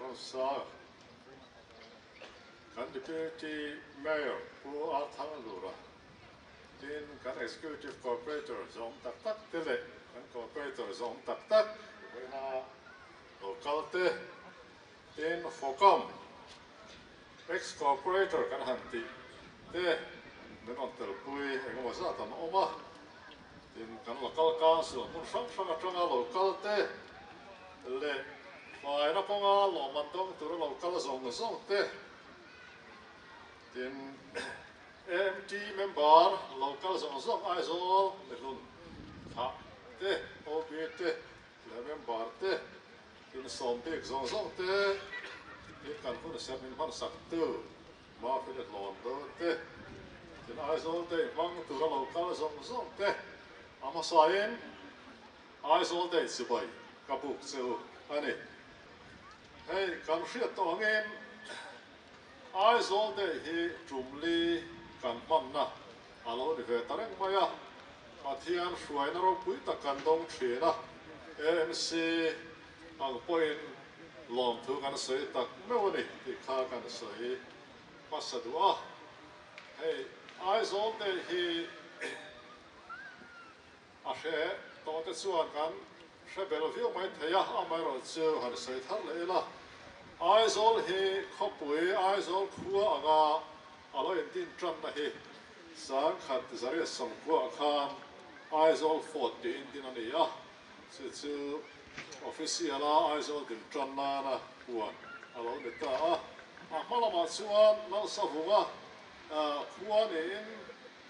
Rosa kan Deputy Mayor Pu Arthur Lura tin kan Executive Cooperator zawng tak tak te leh kan Cooperator zawng tak tak Local te tin Fawkam Ex corporator kan han tih te min rawn tel pui engemaw zat an awm a, tin kan local council hmun hrang hrang atanga lo kal te leh hnuaina kawnga lawmman dawng tura lo kal zawng zawng te, tin AMT member lo kal zawng zawng aizawl mihlun thah te OB te He member te insawm bik zawng zawng te tin kan hun ser ning hmansak tu Murphy le Hlawn do te tin Aizawl day hmang tura lo kal zawng zawng te a hmasain Aizawl day chibai ka buk che u a ni. Hei kan hriat tawh angin Aizawl day hi tumli kan hmanna A lo ni ve ta reng mai a, Pathian hruaina ropui tak kan dawng thin a, ANC ang pawhin lawmthu kan sawi tak meuh a ni tih kha kan sawi hmasa duh a, hei Aizawlte hi. A hre tawh te chuan kan hre bel viau mai thei a, amaherawh chu han sawi thar leh ila. Aizawl hi khawpui Aizawl khua anga a lo intin tanna hi Sangkhat Zariat Sawmkuaha khan Aizawl fort tih intin a ni a, chu chu official a Aizawl din tan nana huan a lo ni ta a. A hma lamah chuan Nalsavunga khua niin.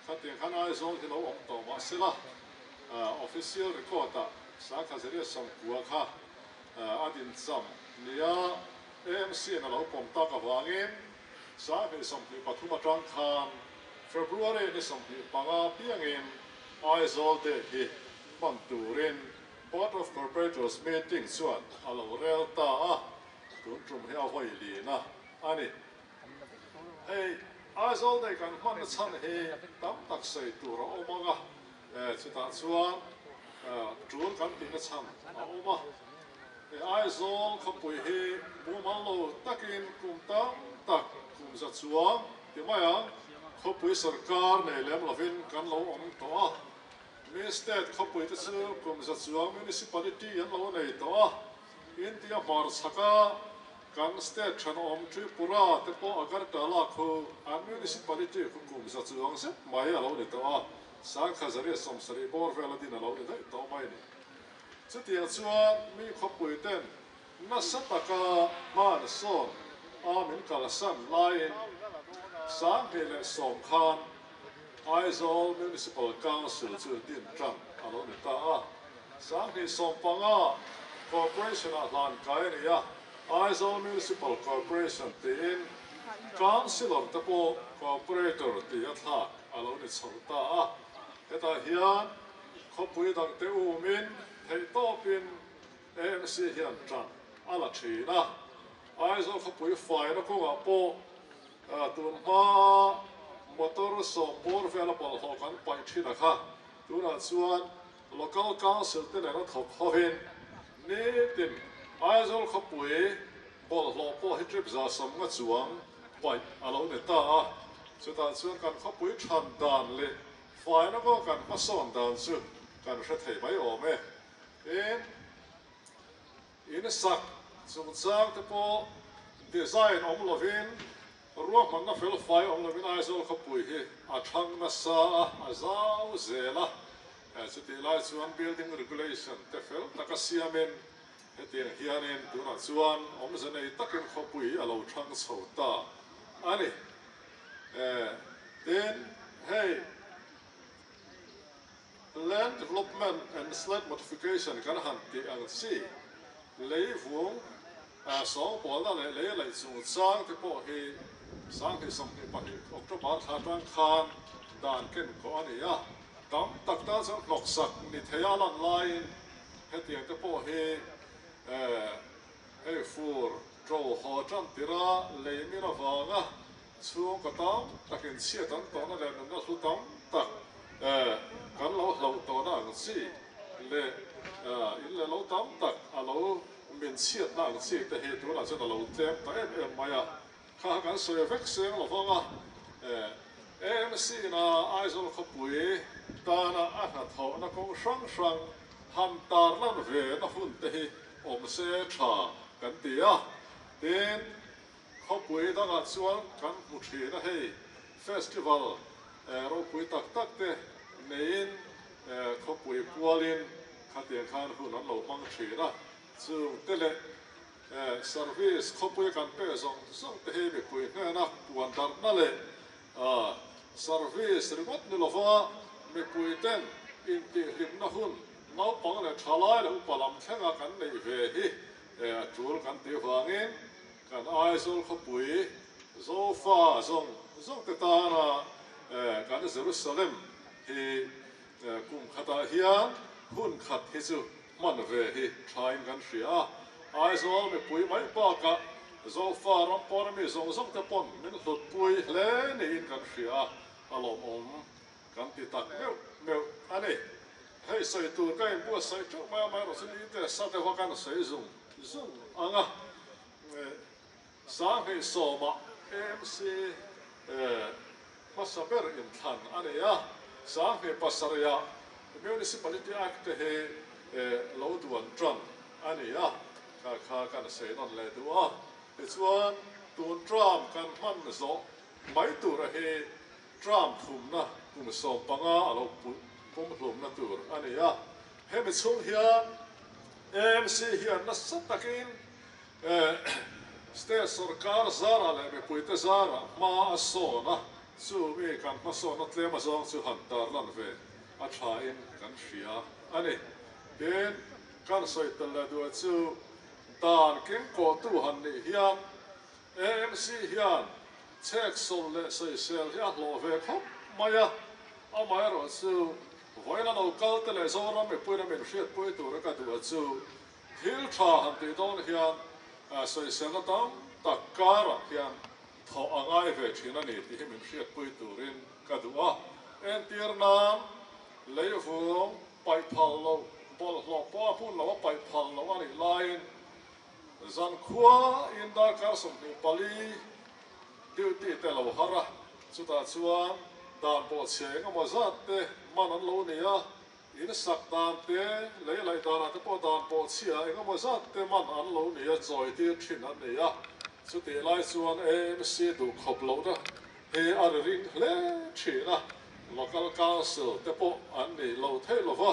Khatiang khan Aizawl hi lo awm tawh mah sela, official record ah Sangkhazeria sawmkua kha a din cham nia AMC-in a lo pawm tak avangin Sanghnih sawmhnih pathum atang khan February ni sawmhnih panga piangin Aizawl date hi hman turin Board of Corporators meeting chuan a lo rel ta a, tun tum hi a vawi lina a ni. Hei Aizawl nei kan hmanna chhan hi tam tak sawi tur a awm ang a, chutah chuan tul kan tihna chhan a awm a. Hei Aizawl khawpui hi mumal lo takin kum tam tak kum za chuang ti mai ang, khawpui sawrkar nei lem lovin kan lo awm tawh a, mi state khawpuite chu kum za chuang municipality an lo nei tawh a. India var chhak a kan state thenawm Tripura te pawh Agartala khu an municipality khu kum za chuang zet mai a lo ni tawh a, Sangkha Zaria sawmsarih bawr vel a din a lo ni daih tawh mai ni. Chutiang chuan mi khawpui ten nasa taka hman sawn a min kalsan laiin Sanghnih leh sawm khan Aizawl Municipal Council chu din tang a lo ni ta a. Sanghnih sawm panga Corporation-ah hlan kai a ni a, Aizawl Municipal Corporation tiin Councillor te pawh Corporator tih a thlak a lo ni chhoh ta a, hetah hian khawpui dangte umin theih tawpin ANC hian tang a la thin a, Aizawl khawpui faina kawngah pawh tun hma motor sawm bawr vela bawlhhlawh kan paih thin a kha, tunah chuan Local Council te nen a thawk hovin nitin Aizawl khawpui bawlhhlawh pawh hi trip za samnga chuang paih a lo ni ta a, chutah chuan kan khawpui than dan leh fai lawka kan hmasawn dan chu kan hre thei mai awm e. Tin. In sak chungchang te pawh design awm lovin ruahmanna felfai awm lovin Aizawl khawpui hi a thlang nasa a, a zau zel a. Chutih lai chuan building regulation te fel taka siamin hetiang hianin tunah chuan awmze nei takin khawpui hi a lo thlang chho ta a ni. Tin hei. Land Development and Slab Modification kan han tih ang chi, lei vung sawngpawlna leh lei laih chung chang te pawh hi Sanghnih sawmhnih pahnih October thla tang khan dan ken khawh a ni a, tam tak tan chuan hnawksak ni theia lan laiin hetiang te pawh hi hei fur to haw tan tira lei min avanga Chhungkaw tam takin chhiat an tawhna leh nunna hlu tam tak kan lo hlauh tawhna ang chi leh in leh lo tam tak a lo min chhiatna ang chi te hi tunah chuan a lo tlem ta em em mai a. Kha a kan sawi vek seng lo vang a, ANC ina Aizawl khawpui tana a hnathawhna kawng hrang hrang han tar lan ve na hun te hi awm se tha kan ti a, tin, Khawpui dangah chuan kan hmu thin a hei, festival eh ropui tak tak te neiin eh khawpui pualin khatiang khan hun an lo hmang thin a, chung te leh eh service khawpui kan peh zawng zawng te hi mipui hnena puan darhna leh ah service ringawt ni lova mipui ten intihhlimna hun naupang leh thalai leh upa lam thlenga kan neih ve hi eh a tul kan tih vangin Kan Aizawl khawpui Zofa zawng zawng te tana kan Jerusalem hi kum khatah hian hun khat hi chu hman ve hi thain kan hria a. Aizawl mipui mai bakah Zofa ram pawna mi zawng zawng te pawn min hlutpui hle niin kan hria a, a lawmawm. Kan ti tak meuh meuh a ni. Hei sawi tur ka inbuat saih ṭeuh mai a, amaherawh chu ni te sa te hoa kan saih zung zung ang a. Sanghnih sawma AMC hmasa ber inthlan a ni a, Sanghnih pasarih-a Municipality Act te hi lo duan ṭang a ni a, kha kha kan saih nawn leh duh a. Tichuan tun ṭam kan hman zawh mai tura hi Trump thumna kum sawm panga a lo put pumhlumna tur a ni a, hemi chhung hian ANC hian nasa takin state sawrkar zarah leh mipuite zarah hma a sawn a, chumi kan hmasawnna tlem a zawng chu han tarlan ve a thlain kan hria a ni. Tin, kan sawi tel leh duai chu dan kengkawhtu han nih hial AMC hian chhek sawm leh sawisel hi a hlawh ve khawp mai a, amaherawh chu vawiin a lo kal te leh Zoram mipuiin a min hriat pawi tura ka duh a chu thil tha han tih dawn hian sawiselna tam tak karah hian thawh a ngai ve thin a ni tih hi min hriat pawi turin ka duh a, entir nan leivung paih phal loh, bawlhhlawh pawh a hun lo a paih phal loh a nih laiin. Zan khua in darkar sawmhnih pali duty te lo har a, chutah chuan dan pawh chhe engemaw zat te man an lo nei a, in sak dan te, lei laih danah te pawh dan pawh chhia engemaw zat te man an lo nei a, chawitir thin an nei a, chutih lai chuan amc duh khawp lohna hi a ri ring hle thin a, local council te pawh an nih lo theih lo va,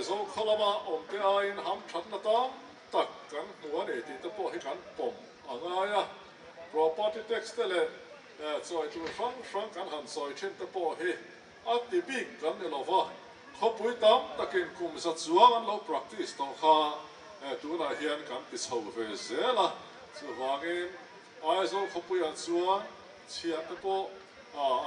Zo khaw lama awm te aiin ham thatna tam tak kan hmu a ni tih te pawh hi kan pawm a ngai a. Property tax te leh chawi tur hrang hrang kan han chawi thin te pawh hi a ti bik kan ni lo va, khawpui tam takin kum za chuang an lo practice tawh kha tunah hian kan ti chho ve zel a. Chuvangin Aizawl khawpuiah chuan chhiat te pawh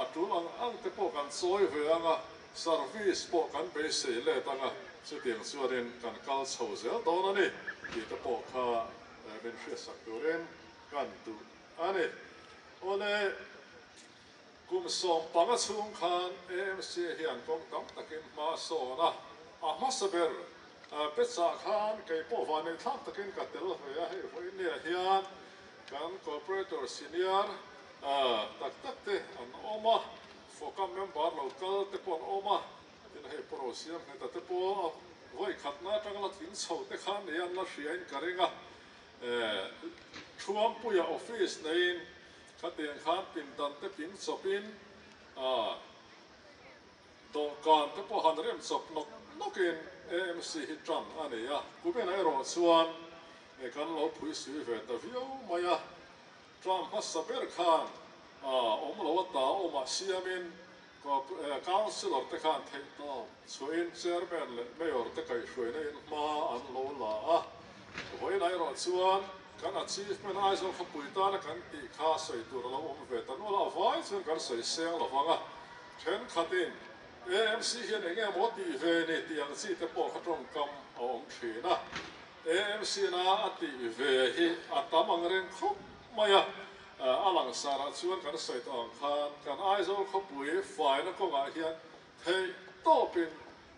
a tul ang ang te pawh kan chawi ve ang a. Service pawh kan bei sei let anga chutiang chuanin kan kal chho zel dawn a ni tih te pawh kha min hriatsak turin kan duh a ni. Awle kum sawm panga chhung khan AMC hian kawng tam takin hma sawn a, a hmasa ber te chah khan kei pawh vanei thlak takin ka tel ve a, hei vawinia hian kan Corporator Senior tak tak te an awm a, Fawkam member lo kal te pawh an awm a, tin hei Puro siam hme ta te pawh a vawi khatna atang la tling chho te khan ni an la hria in ka ring a, Thuampuia office nei in kha tiang khan pindan te ping chawp in ah dawhkan te pawh han rem chawp nawk nawk in amc hi tang a ni a, Kumina erawh chuan kan lo phuisui ve ta viau mai a. Tlâng hmasa ber khan aa awm lo a ta awmah siamin Councillor te khan theihtawp chhuahin Chairman leh Mayor te kaihhruaina in hma an lo la a. Vawiinah erawh chuan kan Achievement Aizawl khawpui tana kan tih kha sawi tur a lo awm ve ta nual a, a vai chuan kan sawi seng lo vang a. Thenkhatin AMC hian eng emaw tih ve ni tih ang chi te pawh kha tawngkam a awm thin a. AMC-na a tih ve hi a tam ang reng khawp mai a, a langsarah chuan kan sawi tawh ang khan kan Aizawl khawpui faina kawngah hian theih tawpin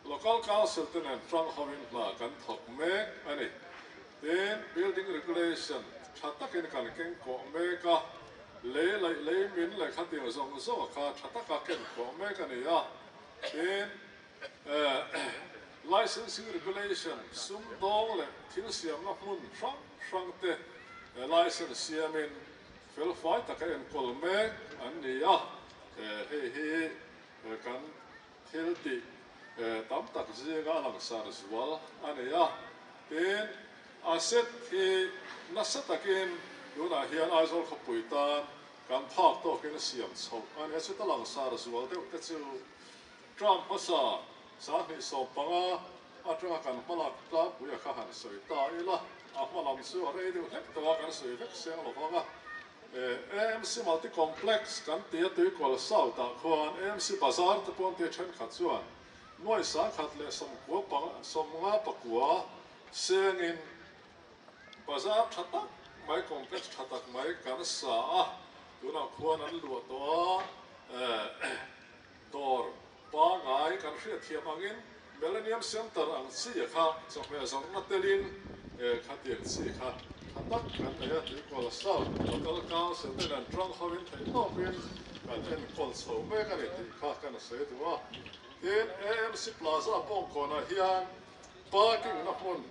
Local Council te nen tang hovin hna kan thawk mek a ni. Tin, Building Regulation tha takin kan keng kawh mek a, lei laih lei min leh khatir zawng zawng kha tha taka ken kawh mek a ni a, tin, Licensing Regulation, sumdawng leh thil siamna hmun hrang hrang te licence siamin felfai tak a enkawl mek an ni a, hei hi kan thiltih tam tak zinga a langsar zual a ni a. Tin, asset hi nasa takin tunah hian Aizawl khawpui tan kan phak tawkin siam chhoh a ni a, chuta langsar zual deuh te chu Trump hmasa sanghnih sawm panga atanga kan hmalak tlangpui a kha han sawi ta ila, a hmalam chu a rei deuh hlek tawh a, kan sawi vek seng lo vang a. AMC Multicomplex kan ti a tuikawl south ah khuan AMC Bazar te pawh an ti a, thenkhat chuan nuai sangkhat leh sawmkua panga sawm nga pakua sengin bazar tha tak mai complex tha tak mai kan sa a, tunah khuan an luah tawh a. Dawr pa ngai kan hriatthiam angin Millennium Centre ang chi a kha chawhmeh zawrhna telin he kha tiang chi kha tha tak kan nei a tih Kuala South Local Council te nen tang hovin theihtawpin kan enkawl chho mek a ni tih kha ka na sawi duh a. Tin, AMC Plaza pawngkawnah hian parking-na hmun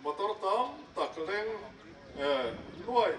motor tam tak leng nuaih,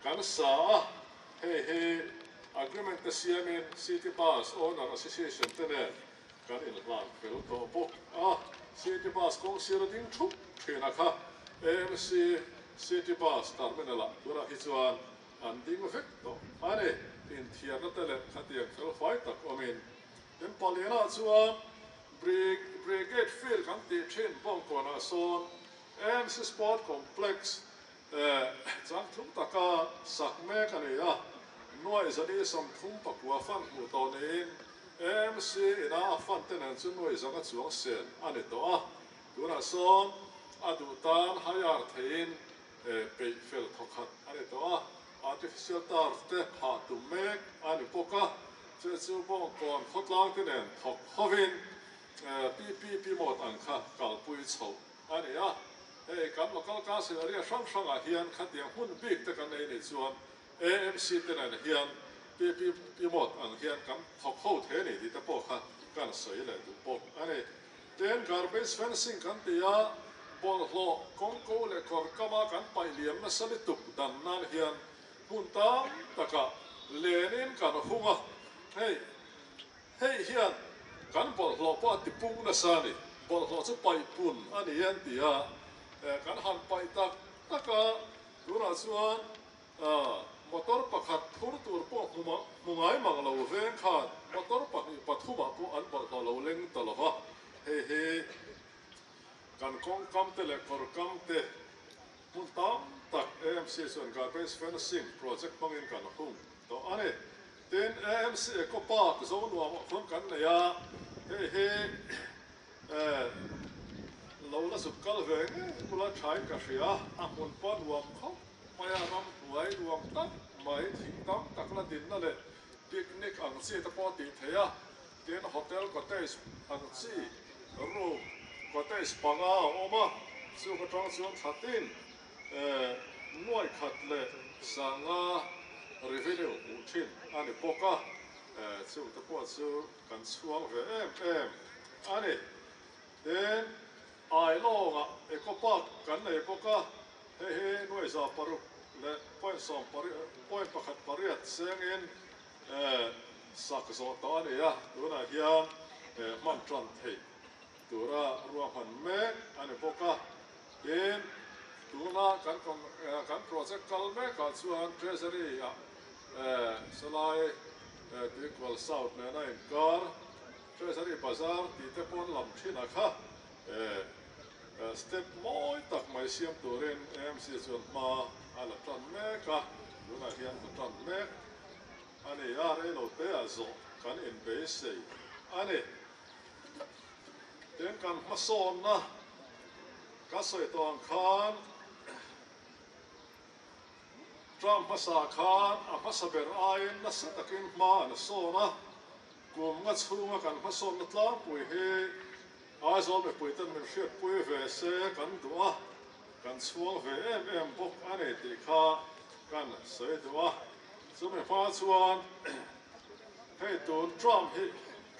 Kan sa a, hei hi Agreement te siamin City Bus Owner Association te nen kan inhlan fel tawh bawk a, City Bus kawng sira ding thup thina kha AMC City Bus Terminal ah bura hi chuan an ding vek tawh a ni. Inthiarna te leh khatiang fel huai tak awmin kan paliana chuan Brig Brigade Field kan tih thin bawng kawnah sawn AMC Sport Complex Eh, chang thum taka sak mek a ni a, nuaih zani sam thum pakua fan hmuh tawh niin MC ina a fan te nen chu nuaih zanga chuang sel a ni tawh a, tunah sawn a duh tan hire theihin eh peih fel thaw khat a ni tawh a, artificial turf te phah tum mek a ni bawk a, che chu Bawngkawn khawtlang te nen thawk hovin eh pi pi pi mawt ang kha kalpui chhoh A ni a, hei kan local council area hrang hrangah hian khatiang hmun bik te kan ei nei chuan amc te nen hian PP Pimawt ang hian kan thawk ho the ni tih te pawh kha kan sawi leh duh bawk a ni. Ten garbage fencing kan ti a, bawlhhlawh kawngko leh kawr kama kan paih liam nasa lutuk dan nan hian hmun tam takah lenin kan hung a, hei Hei hian kan bawlhhlawh pawh a tipung nasa a ni. Bawlhhlawh chu paih pun a ni an ti a, eh kan han paih tak tak a, tunah chuan ah motor pakhat phur tur pawh hmu mang hmu ngai mang lo veng khan motor pahnih pathumah pawh an bawlhhlawh lo leng ta lova, hei hi kan kawngkam te leh kawrkam te hmun tam tak AMC chuan garbage fencing project hmangin kan hung tawh a ni. Tin, ANC Eco Park zo nuam ah khawn kan nei a, hei hi lo la zut kal ve ngei bula thain ka hria. A hmun pawh nuam khawp mai a, ram hnuai nuam tak mai, thing tam tak la dinna leh picnic ang chi te pawh tih theih a, tin, hotel cottage ang chi, room cottage panga a awm a, chung atang chuan thlatin. E nuai khat leh sanga revenue hmuh thin a ni bawk a, e chute pawh chu kan chhuang ve em em a ni. Tin, ai lawngah Eco Park kan nei bawk a, hei hi nuaihza paruk leh point sawm point pakhat pariat chengin e sak zawh ta a ni a, tunah hian e hman tan theih Tura ruahman mek a ni bawk a, tin, tuna kan kawng eh kan project kal mek ah chuan Treasury a eh Salai eh Tuikual South nena inkar, Treasury bazar tih te paw'n lam thin a kha eh eh step mawi tak mai siam turin AMC chuan hma a la tan mek a, tunah hian hla tan mek a ni a, reilote ah zawh kan inbeisei a ni. Tin kan hmasawnna ka sawi tawn khan Trump hmasa khan a hmasa ber aiin nasa takin hma an la sawn a, kumnga chhunga kan hmasawnna tlangpui hi Aizawl mipuiten min hriatpui ve se kan duh a, kan chhuang ve em em bawk a ni tih kha kan sawi duh a. Chumi hma chuan. Hei tûn Trump hi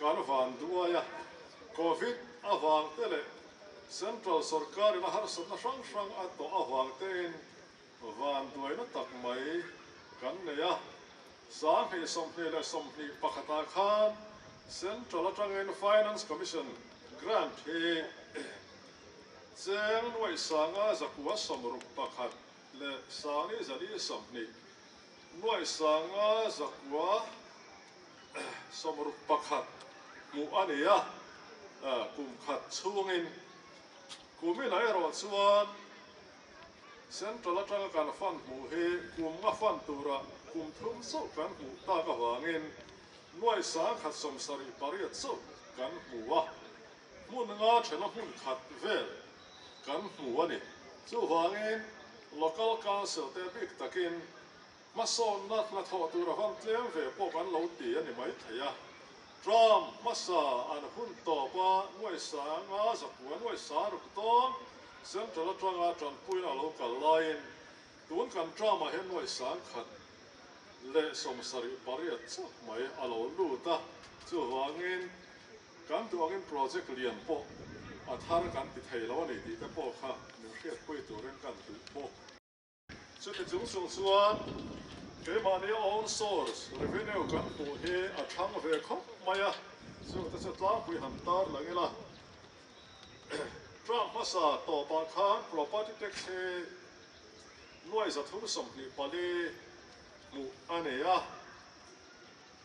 kan vân duh ai a, Covid avângte leh Central sawrkârin a harsatna hrang hrang a tawh avângtein vân duaina tak mai kan nei a. Sânghnih sawmhnih leh sawmhnih pakhata khân Central aṭangin Finance Commission grant hi chêng nuaih sânga zakua sawm ruk pakhat leh sângnihzanihsawmhnih, Nuaisanga zakua samruk pakhat hmuh a ni a, kum khat chhungin kum ila erawh chuan Central atanga kan fan hmuh hi kum a fan tura kum thum chauh kan hmuh tak avangin nuaisang khat sawm sarih pariat chauh kan hmu a. Hmun anga thena hmun khat vel kan hmu a ni. Chuvangin Local Council-te bik takin hmasawnna hnathawh tur a van tlem ve pawh kan lo ti a ni maithei a. Trump hmasa an hun tawp a, nuaihsanga zakua nuaihsa ruk dawn Central atanga tanpuiin a lo kal laiin tun kan Trump-ah hian nuaihsang khat leh sawmsarih pariat chauh mai a lo lut a. Chuvangin. Kan duangin project lian pawh a thar kan ti thei lo a ni tih te pawh kha min hriat pui turin kan hmuh bawk. Chumi chung zawh chuan keimahni own source revenue kan hmuh hi a thlang ve khawp mai a, chute chu tlangpui han tar loh ila Trump hmasa tawpah khan property tax hi nuaih za thum sawmhnih pali hmuh a ni a.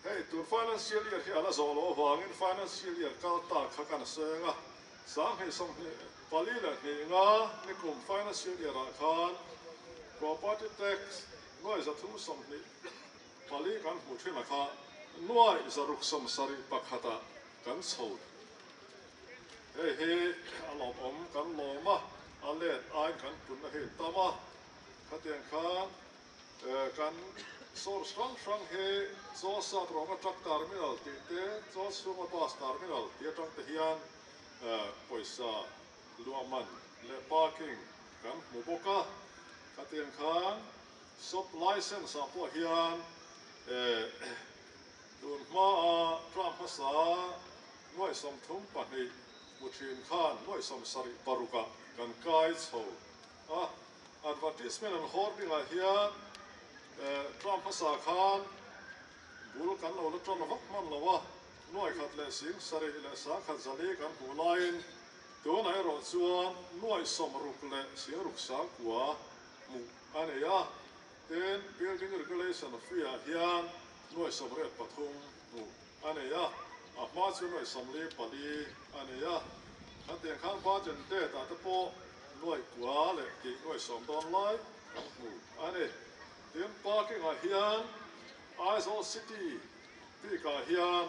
Hei tur financial year hi a la zawh loh avangin financial year kal ta kha kan seng a, sang hnih sawm hnih pali leh hnih nga nikum financial year ah khan property tax nuai za thu sawm hnih pali kan hmu thin a kha nuai za ruk sawm sarih pakhat ah kan chho hei hi a lawm awm kan lawm a a let aiin kan pun a hit tam a khatiang khan Kan source hrang hrang hi Josat rawnga truck terminal tih te, Joshua-nga bus terminal tih atang te hian pawisa luahman leh parking kan hmu bawk a, khatiang khan shop licence ah pawh hian tun hmaa tlak hmasa nuaihsawm thum pahnih hmu thin khan nuaihsawm sarih paruk ah kan kai chho A advertisement an hawr dingah hian Trump hmasa khan bul kan lo la tan vak hman lo a, nuai khat leh sing sarih leh sang khat zali kan hmuh laiin tunah erawh chuan nuai sawm ruk leh sing ruk sang kua hmuh a nei a. Tin, Building Regulation Free-ah hian nuai sawm ret pathum hmuh A nei a, a hma chu nuaih sam li pali a nei a, khatiang khan pachen te tah te pawh nuaih kua leh tih nuaih sawm dawn lai kan hmu a ni. Tin, Parking ah hian Aizawl City Peak ah hian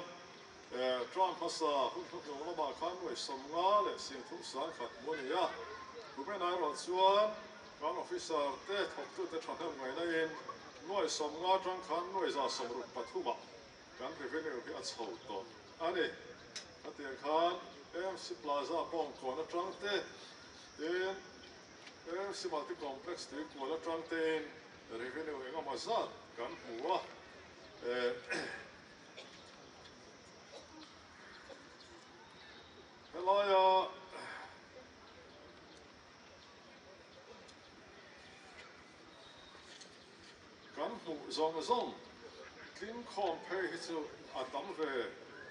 Trump hmasa hun hnahnung lamah khan nuaih sawm nga leh sing thum sang khat hmu a ni a, Human I erawh chuan kan officer te thawktute thahnem ngainaiin nuaih sawm nga tang khan nuaih za sawm ruk pathum a. Kan revenue hi a chho tawh a ni. Hetiang khan AMC Plaza pawng kual atang te, tin AMC Multi Complex tui kual atang tein revenue engemaw zat kan hmu a. Helaia Kan hmuh zawng zawng tling khawm phei hi chu a tam ve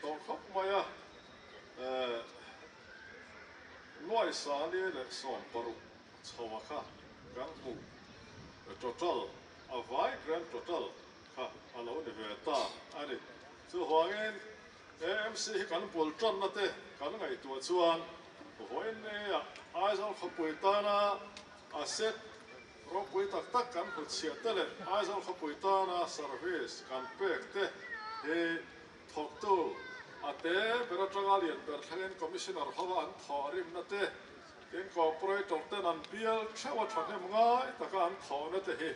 tawh khawp mai a, Nuaisale leh Sawmparuk chhoa kha kan hmuh total a vai grand total kha a lo ni ve ta a ni. Chuvangin AMC hi kan bul tanna te kan ngaihtuah chuan vawiin neiah Aizawl khawpui tana a set Rawngpui tak tak kan hmu chhiah te leh Aizawl khawpui tana service kan pek te hi thawktu Ate ber atanga lian ber thlengin Commissioner ho an thawh rimna te, Incorporator ten an bial theuha thahnem ngai taka an thawh na te hi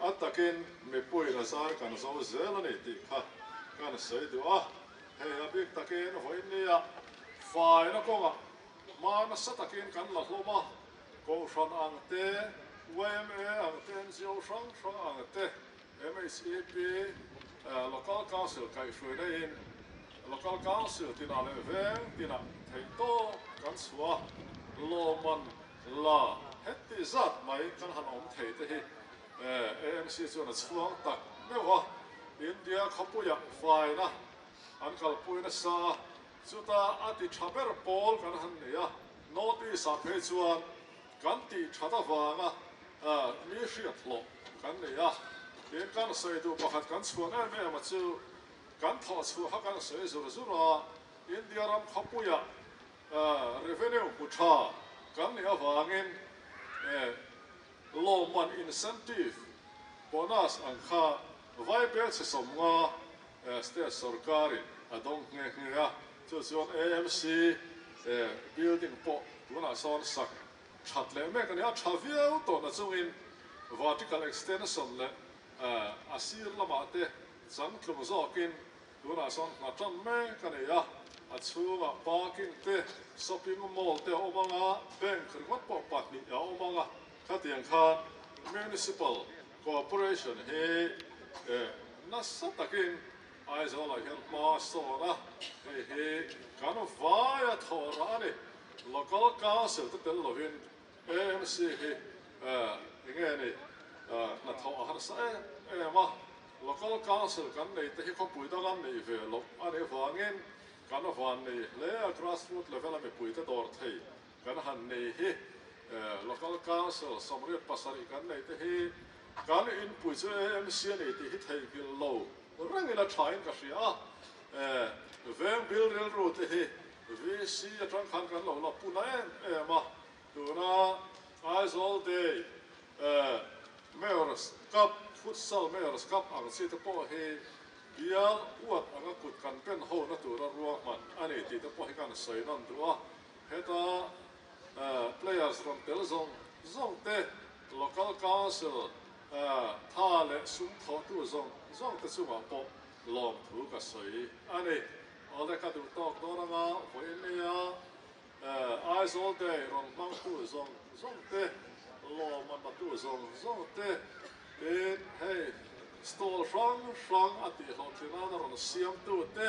a takin mipui la zar kan zo zel a ni tih kha kan sawi duh a. Hei a bik takin vawinia faina kawngah hmanasa takin kan la hlawm a. Kohhran ang te, yma ang te, NGO hrang hrang ang te, MHEP, Local Council kaihhruaina in Local Council tina leh veng tina theih tawng kan chhuah a, lawmman la hetih zat mai kan han awm thei te hi ANC chuan a chhuang tak meuh a, India khawpuiah faina an kalpui nasa a. Chuta a ti tha ber pawl kan han nei a, North East ah phei chuan kan tih that avanga mi hriat hlawh kan nei a, tin kan sawi duh pakhat kan chhuan em em a chu kan thawh chhuah kha kan sawi zur zur a, India ram khawpuiah revenue hmu tha kan nih avangin lawmman incentive, bonus, ang kha vai bel chhe sawm nga State sorkarin a dawng nghe nghe a, chu chuan AMC building pawh tunah sawn sak that leh mek a ni a, tha viau tawhna chungin vertical extension leh a sir lamah te chang tlung zawkin tunah sawn ngha tam mek a ni a, a chhungah parking te shopping mall te a awm ang a, bank ringawt pawh pahnih a awm ang a. Khatiang kha Municipal Cooperation hi eh nasa takin Aizawlah hian hma sawn a, hei hi kan vaia thawra a ni. Local Council te tel lovin ANC hi eh enge ni eh hnathawh a harsa em em a, Local Council kan nei te hi khawpui dang an nei ve loh a nih vangin kan vannei hle a, Grassroot level a mipuite dawr thei. Kan han nei hi Local Council sawmriat pasarih kan nei te hi kan inpui chu AMC a ni tih hi theihngilh lo rengin a tha in ka hria a, veng bil rilru te hi VC atang khan kan lo la puna em em a, tuna Aizawl day Mayors Cup, Futsal Mayors Cup ang chi te pawh hi bial uat anga kut kan benho na tura ruahman a ni tih te pawh hi kan sawi nawn duh a. Heta players rawn pel zawng zawng te, local council tha leh sumthawhtu zawng zawng te chungah pawh lawmthu ka sawi a ni. Awle ka duh tawk dawn anga Vawimeia Aizawl day rawn hmangtu zawng zawng te, lawm a natu zawng zawng te, tin hei stall hrang hrang a tihhlawhtlinana rawn siamtu te,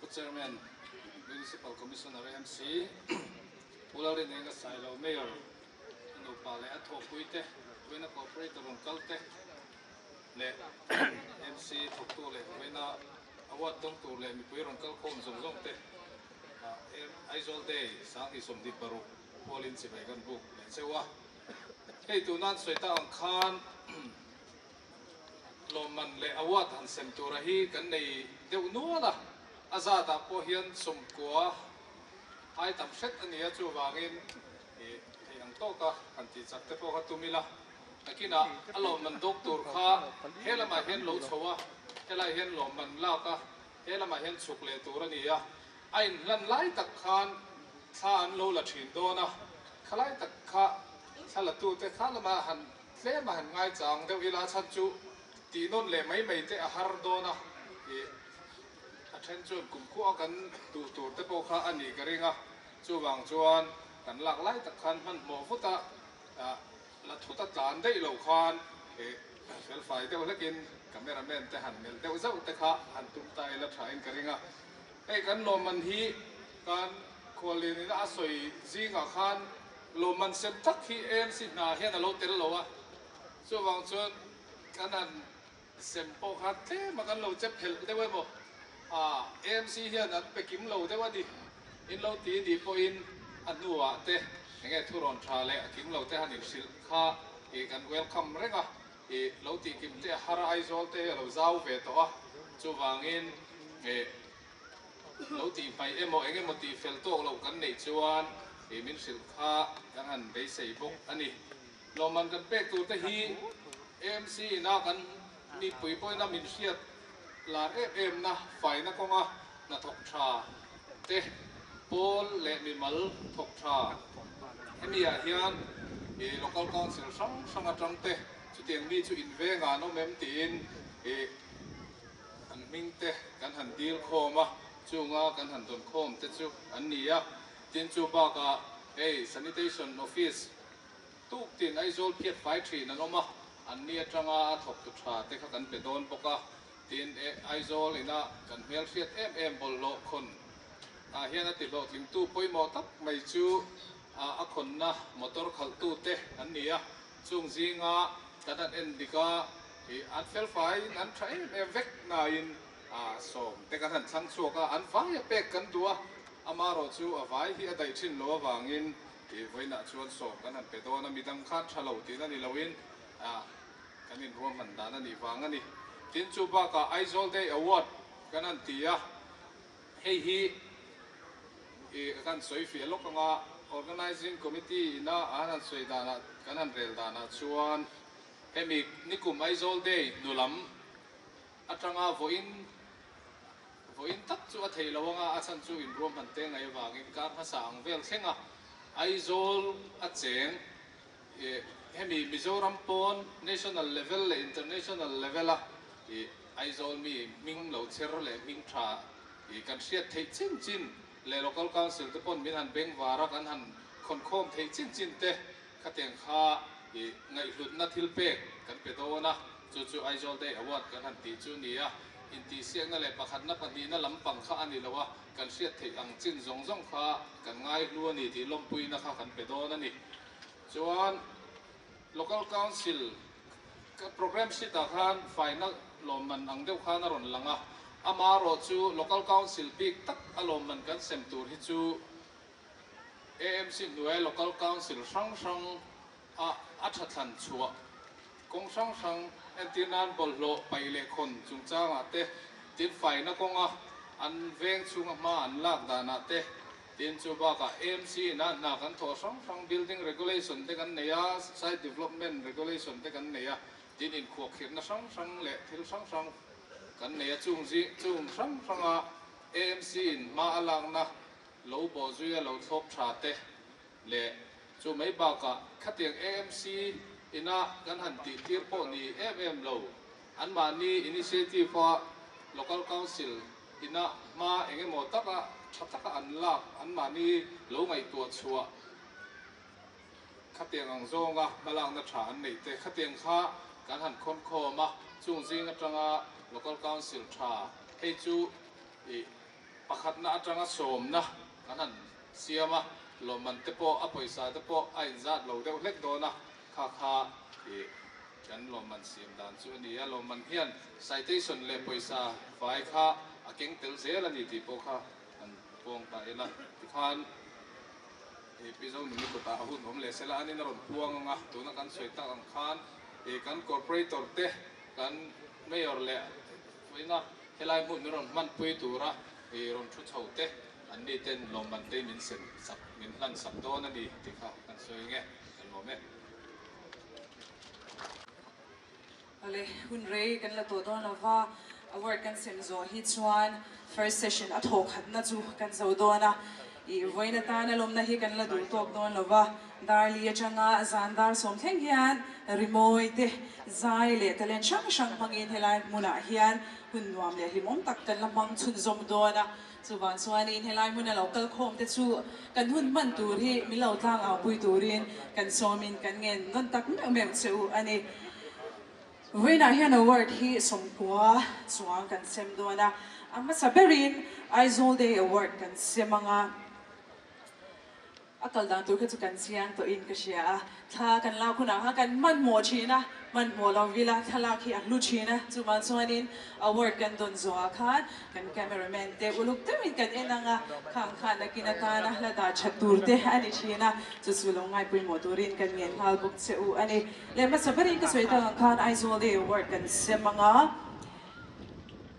Pu Chairman, Municipal Commissioner a MC, Pu Lalrineng a sailo Mayor, a nupa leh a thawkpui te, Vawiina Corporator rawn kal te leh MC thawktu leh Vawiina a ward tawng tur leh mipui rawn kal khawm zawng zawng te Aizawl Day Sanghnih Sawmdit paruk hual in chivei kan buk leh cheu a. Hei tuna an sawi ta ang khan. Tlawmman leh award an sem tura hi kan nei deuh nual a, a zatah pawh hian sumkua ai tam hret a nia, chuvangin i theih ang tawk a, kan tih chak te pawh kha tum ila. Takinah a lawmman dawk tur kha he lamah hian lo chho a, helai hian lawmman lak a, he lamah hian chhuk leh tur a ni a, a inhlan lai tak khan thla an lo la thin dawn a, khalai tak kha thla latute kha lamah han Tlem a han ngai chang deuh ila a chhan chu tih nawn leh mai mai te a har dawn a ni. A then chuan kumkhua kan duh tur te pawh kha a nih ka ring a, chuvang chuan kan lak lai tak khan hmanhmawh vut a la thut a tlan daih lo khan felfai deuh hlekin camera man te han melh deuh zauh te kha han tum ta ila tha in ka ring a. Hei kan lawmman hi kan khuallian ina a sawi zingah khan. Lo man sem tak hi AMC hna hian a lo tel lo a, chuvang chuan kan an sem pawh khan tlem a kan lo che phelh deuh emaw, aah AMC hian an pe kim lo deuh a ni, in lo ti i dih pawhin a hnuah te enge thu rawn tha leh a kim lo te han in hrilh kha ih kan welcome reng a, ih lo tih kim te a har a, Aizawl te hi a lo zau ve tawh a, chuvangin ih Lo tih hmai emaw eng emaw tih fel tawk loh kan neih chuan he min hrilh kha kan han beisei bawk a ni. Lawmman kan pek tur te hi AMC ina kan mipui pawina min hriat lar em emna faina kawnga hnathawk tha te pawl leh mimal thawk tha hemi ah hian he local council hrang hrang atang te chutiang mi chu invengan awm em tiin he An hming te kan han dil khawm a, chunga kan han dawn khawm te chu an ni a, tin chu bakah hei Sanitation Office tuk tin Aizawl phiat fai thin an awm a, an ni atanga a thawktu tha te kha kan pe dawn bawk a, tin e Aizawl ina kan hmelhriat em em bawlhhlawh khawn ah hian a tihlawhtlingtu pawimawh tak mai chu a khawnna motor khalh tu te an ni a. Chung zinga kan han en dik a, i an felfai in an tha em em vek na in sawm te kan han thlang chhuak a, an vai a pek kan duh a, ama erawh chu a vai hi a daih thin lo avang in i vawiinah chuan sawm kan han pe dawn a, mi dang khan tha lo tih na ni lo in kan in ruam han dan a nih vang a ni. Tin chu bak ah Aizawl Day Award kan han ti a. Hei hi i ka kan sawi fiah lawk anga Organising Committee ina an han sawi danah kan han rel danah chuan hemi nikum Aizawl day hnu lam atanga vawiin vawiin tak chu a theih lo anga a chhan chu inruam han te ngai avangin kar hmasa ang vel thlenga Aizawl a cheng hemi Mizoram pawn national level leh international level a Aizawl mi hming lo chher leh hming tha kan hriat theih chin chin leh local council te pawn min han beng var a kan han khawnkhawm theih chin chin te khatiang kha ngaihhlutna thil pek kan pe dawn a chu chu Aizawl day award kan han tih chu ni a intihsiakna leh pakhatna pahnihna lampang kha a ni lo a kan hriat theih ang chin zawng zawng kha kan ngaihlu a ni tih lawmpuina kha kan pe dawn a ni. Chuan Local Council Programme Sheet ah khan faina lawmman ang deuh khan a rawn lang a, amah erawh chu Local Council bik tak a lawmman kan sem tur hi chu AMC hnuaia Local Council hrang hrang a a tha thlan chhuah kawng hrang hrang entir nan bawlhhlawh paih leh khawn chungchangah te, tin faina kawnga an veng chhunga hma an lak danah te Tin, chu bakah AMC in a hna kan thawh hrang hrang, Building Regulation te kan nei a, Site Development Regulation te kan nei a, tin inkhuakhirhna hrang hrang leh thil hrang hrang kan nei a, chung zing chung hrang hranga AMC in hma a lakna lo bawh zui a lo thlawp tha te leh chu mai bakah khatiang AMC ina kan han tih tir pawh ni em em lo, anmahni initiative a Local Council Inah hma eng emaw taka tha taka an lak an mahni lo ngaihtuah chhuah khatiang ang zawnga hmalakna tha an neih te khatiang kha kan han khawn khawm a, chung zing atanga Local Council tha hei chu i pakhatna atanga sawmna kan han siam a, lawmman te pawh a pawisa te pawh a inzat lo deuh hlek dawn a. Kha kha hi kan lawmman siam dan chu a ni a, lawmman hian citation leh pawisa fai kha a keng tel zel a ni tih pawh kha kan pawng ta ila, tikhan he Pizo Numi kawtah a hun awm leh sela anin a rawn puang ang a, tuna kan sawi tak ang khan he kan corporator te kan mayor leh tuina helai hmun min rawn hmanpui tura he rawn thu chho te an ni ten lawmman te min sem sak min hlan sak dawn a ni tih kha kan sawi ang e. Awle, hun rei kan la tawh dawn lova, a word kan sem zawh hi chuan first session a thaw khatna chu kan zo dawn a, ih vawiin atana lawmna hi kan la duh tawk dawn lova, Darli atanga zan dar sawm thleng hian rimawi te, zai leh talent hrang hrang hmangin helai hmunah hian hun nuam leh hlimawm tak kan la hmang chhunzawm dawn a, Chuvang chuanin helai hmuna lo kal khawm te chu kan hun hman tur hi min lo tlang au pui turin kan sawmin kan ngen nawn tak meuh meuh che u a ni. Vawiinah hian award hi sawmkua chuang kan sem dawn a, a hmasa berin Aizawl Day Award kan sem ang a. A kal dang tur kha chu kan chiang tawh in ka hria a, thla kan lak hunah kha kan hmanhmawh thin a, hmanhmawh lo vil a, thlalak hi a hlu thin a, chuvang chuan in award kan dawn zawh ah khan kan camera man te uluk deuh in kan en ang a, khang khan na kin atan a hla dar that tur te a ni thin a, chu chu lo ngai pawimawh tur in kan ngen nghal bawk che u a ni. Leh hmasa ber in ka sawi tak ang khan Aizawl day award kan sem ang a,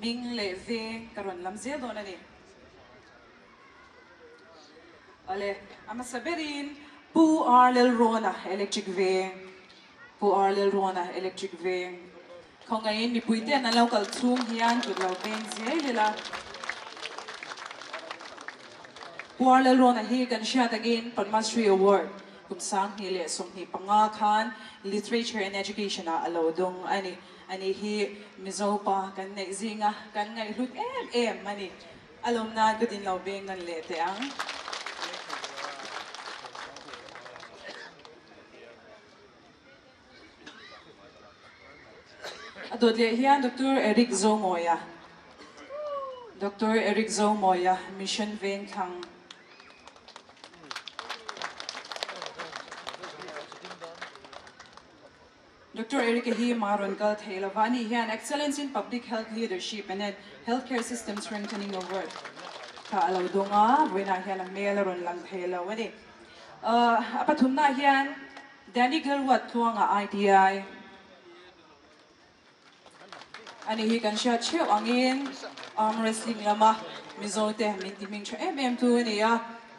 Ming leh veng ka rawn lam zel dawn a ni. Awle, a hmasa berin Pu Ar Lalrawn-a electric veng, Pu Ar Lalrawn-a electric veng. Khawngaihin mipui ten an lo kal chhung hian kut lo peng ziai leh la. Pu Ar Lalrawn-a hi kan hria takin Padmasri Award kum sang hnih leh sawm hnih panga khan Literature and Education-ah a lo dawng a ni. A nih hi Mizo pa kan neih zing a, kan ngaihhlut em em a ni. A lawm nan ka din lo beng nan leh teh ang. A dawt leh hian Doctor Eric Zomoya, Doctor Eric Zomoya Mission Veng Thlang. Doctor Erica hi mah rawn kal thei lo va, ani hian Excellence in Public Health Leadership and at Healthcare System Strengthening Award kha a lo dawng a, vawiinah hian a hmel a rawn lang thei lo ani. A pathumnah hian Danny Gilwat thluangah ITI. Anih hi kan hriat theuh angin arm wrestling lama Mizote min ti hming tha em em chu a ni a,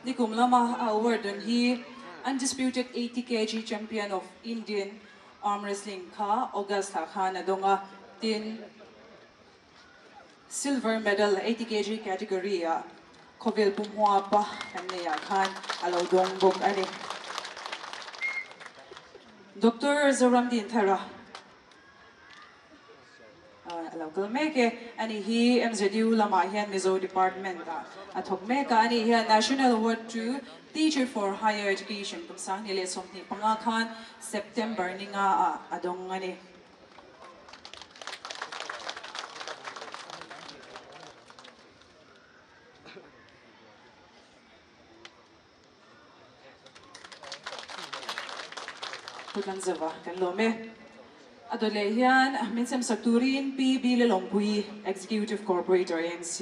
nikum lama a award dan hi Undisputed eighty kg Champion of Indian arm wrestling kha August ah khan a dawng a, tin Silver medal eighty kg category ah khawvel pu hmua pa kan nei ah khan a lo dawng bawk a ni. Doctor Zoramdin Thara. A lo kal mek e. A nih hi MZU lamah hian Mizo Department ah a thawk mek a. A nih hian National Award to Teacher for Higher Education kum sanghnih leh sawmhnih panga khan September ni nga ah a dawng a ni. Kut an zauh a, kan lawm e. A dawt leh hian min semsak turin Pi Bile Lawngpui, Executive Corporator ANC,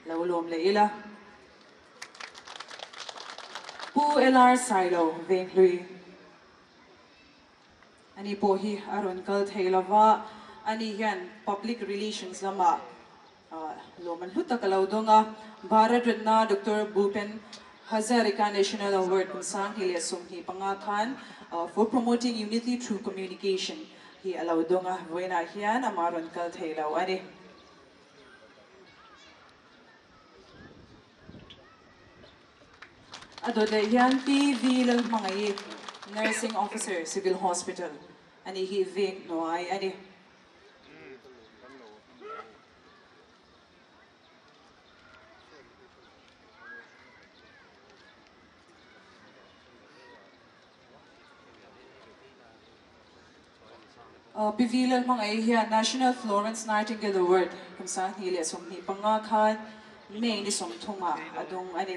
lo lawm leh ila. Pu LR Sailo Venghlui a ni pawh hi a rawn kal thei lova, ani hian Public Relations lamah, Lawm an hlu tak a lo dawng a. Bharat Ratna Doctor Bhupen Hazarika National Award kum sanghnih leh sawmhnih panga khan For Promoting Unity Through Communication hi a lo dawng a, vawiinah hian amah rawn kal thei lo a ni. A dawt leh hian TV lalhmangaih Nursing Officer Civil Hospital a nih hi veng hnuai a ni. Pivilal hmangaih hian National Florence Nightingale Award kum sanghnih leh sawmhnih panga khan May ni sawm thunga a dawng a ni.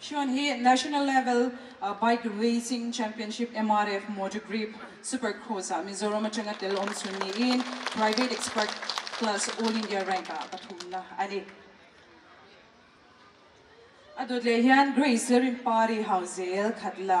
Shawn hi National Level Bike Racing Championship MRF Motor Grip Supercross ah Mizoram atanga tel awmchhun niin Private Expert Class All India Rank ah pathumna a ni. A dawt leh hian Grace Rimpari Hauzel Khatla.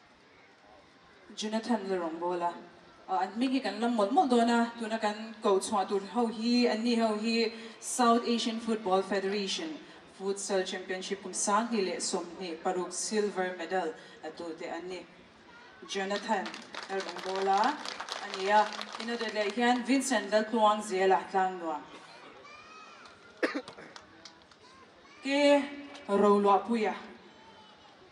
Jonathan la rawn bawl a, an hming hi kan la mawlh mawlh dawn a, tuna kan ko chhuah tur ho hi an ni ho hi South Asian Football Federation Futsal Championship kum sanghnih leh sawmhnih paruk silver medal la tu te an ni. Jonathan la rawn bawl a a ni a, in a dawt leh hian Vincent la tluang zel a tlang nuam. Ke Roluapuia.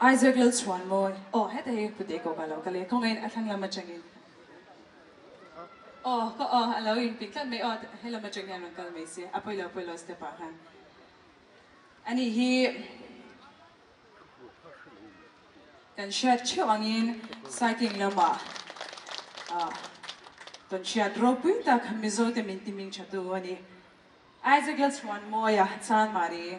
Isaac Lalchhuan mawi aw heta hi pute kawk ah lo kal e khawngain a thlang lam atangin aw ka aw alo inpik tlat mai aw he lam atang hian rawn kal mai se a pawilo pawilo step ah khan anih hi kan hriat theuh angin cycling lamah ah kan hriat ropui tak kha Mizote min ti hming thatu anih Isaac Lalchhuan mawia Chanmari.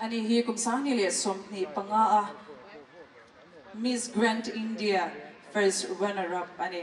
Ani hi kum sangni leh sawmhnih panga a Miss Grand India First Runner Up a ni.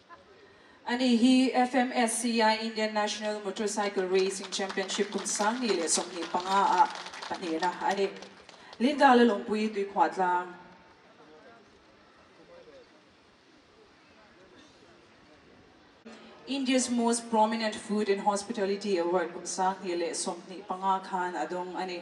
Ani hi FMSCI Indian National Motorcycle Racing Championship kum sangngi leh sawmhnih panga ah pahnihna a ni. Linda le Lawmpui Tuikhuah tlang. India's Most Prominent Food and Hospitality Award kum sanghnih leh sawmhnih panga khan a dawng a ni.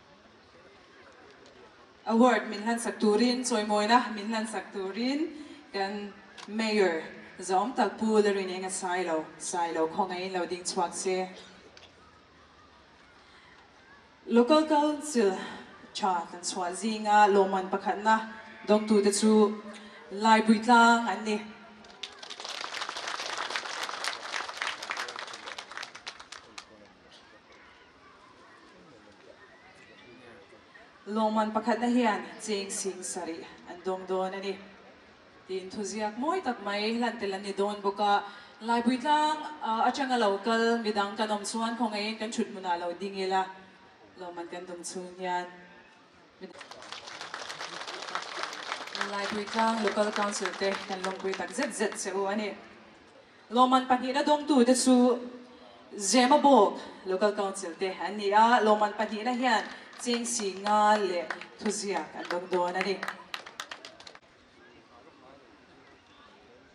Award min hlansak turin, chawimawina min hlansak turin kan Mayor zawng tak Pu Larin Enga sai lo, sai lo khawngaihin lo ding chhuak se. Local Council tha kan chhuah zinga lawmman pakhatna dawngtute chu Laibui Tlang an ni. Lawngman pakhatna hian cheng sing sarih an dawng dawn a ni tiin thuziak mawi tak mai hlan tel an ni dawn bawk a. Laipui tlang atanga lo kal midang kan awm chuan khawngain kan thut hmunah lo ding ila lawngman kan dum chhung hian. Laipui tlang Local Council te kan lawmpui tak zet zet che u a ni. Lawmman pahnihna dawngtu te chu Zemabawk Local Council te an ni a, lawmman pahnihna hian chengsi nga leh thuziak an dawng dawn a ni.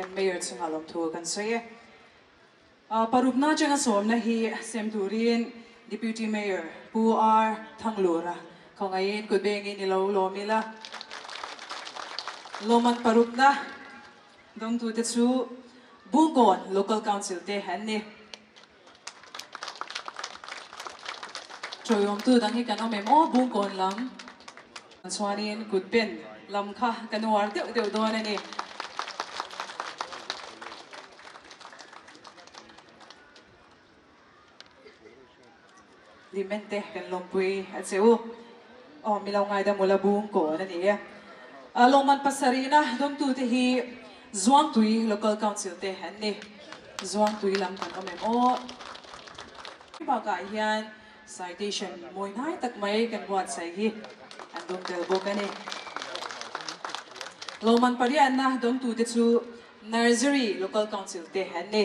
Kan Mayor chungah lawmthu kan sawi e. Parukna atanga sawmna hi sem turin Deputy Mayor Pu R Thanglura khawngaihin kut bengin i lo lawm ila. Lawm an parukna dawngtute chu Bungawn Local Council te an ni. Chawi awmtu dang hi kan awm em aw bung kawn lam chuanin kut pen lam kha kan uar deuh deuh dawn a ni. Lim en te kan lawmpui a che u. Aw milo ngaidam ula bung kawn a ni a. Lawmman pasarihna dawmtu te hi Zuangtui Local Council te an ni. Zuangtui lam kan awm em aw. Bakah hian citation mawi nai tak mai kan buatsaih hi an dawm tel bawk a ni. Lawmman pariatna dawmtu te chu Nursery Local Council te an ni.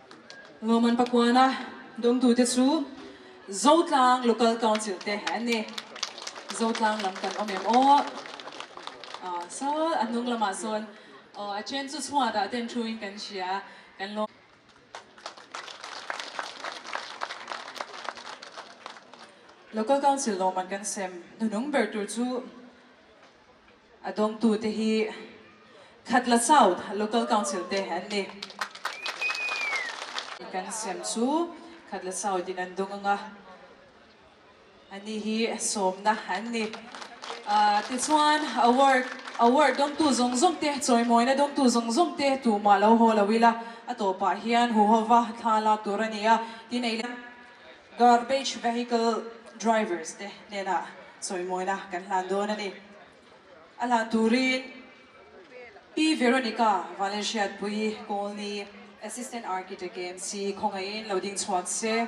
Ngawman Pakuana dawngtute chu Zotlang Local Council te an ni. Zotlang lam kan awm em aw? Aw, saw a hnung lamah sawn aw a then chu chhuat ah ten thu in kan hria kan lawm. Local Council lawmman kan sem hnuhnung ber tur chu. A dawngtute hi Khatla South Local Council te an ni. Kan siam chu Khatla South in an dawng ang a, ani hi sawmna an ni. Tichuan Award Award dawngtu zawng zawng te, chawimawina dawngtu zawng zawng te tumah lo haw lo ila, a tawpah hian huhova thla lak tur a ni a. Tinei leh. Garbage vehicle drivers te nena chawimawina kan hlan dawn a ni. A hlan turin P. Veronica Valenciatpuii Colney Assistant Architect KMC khawngaihin lo ding chhuak se.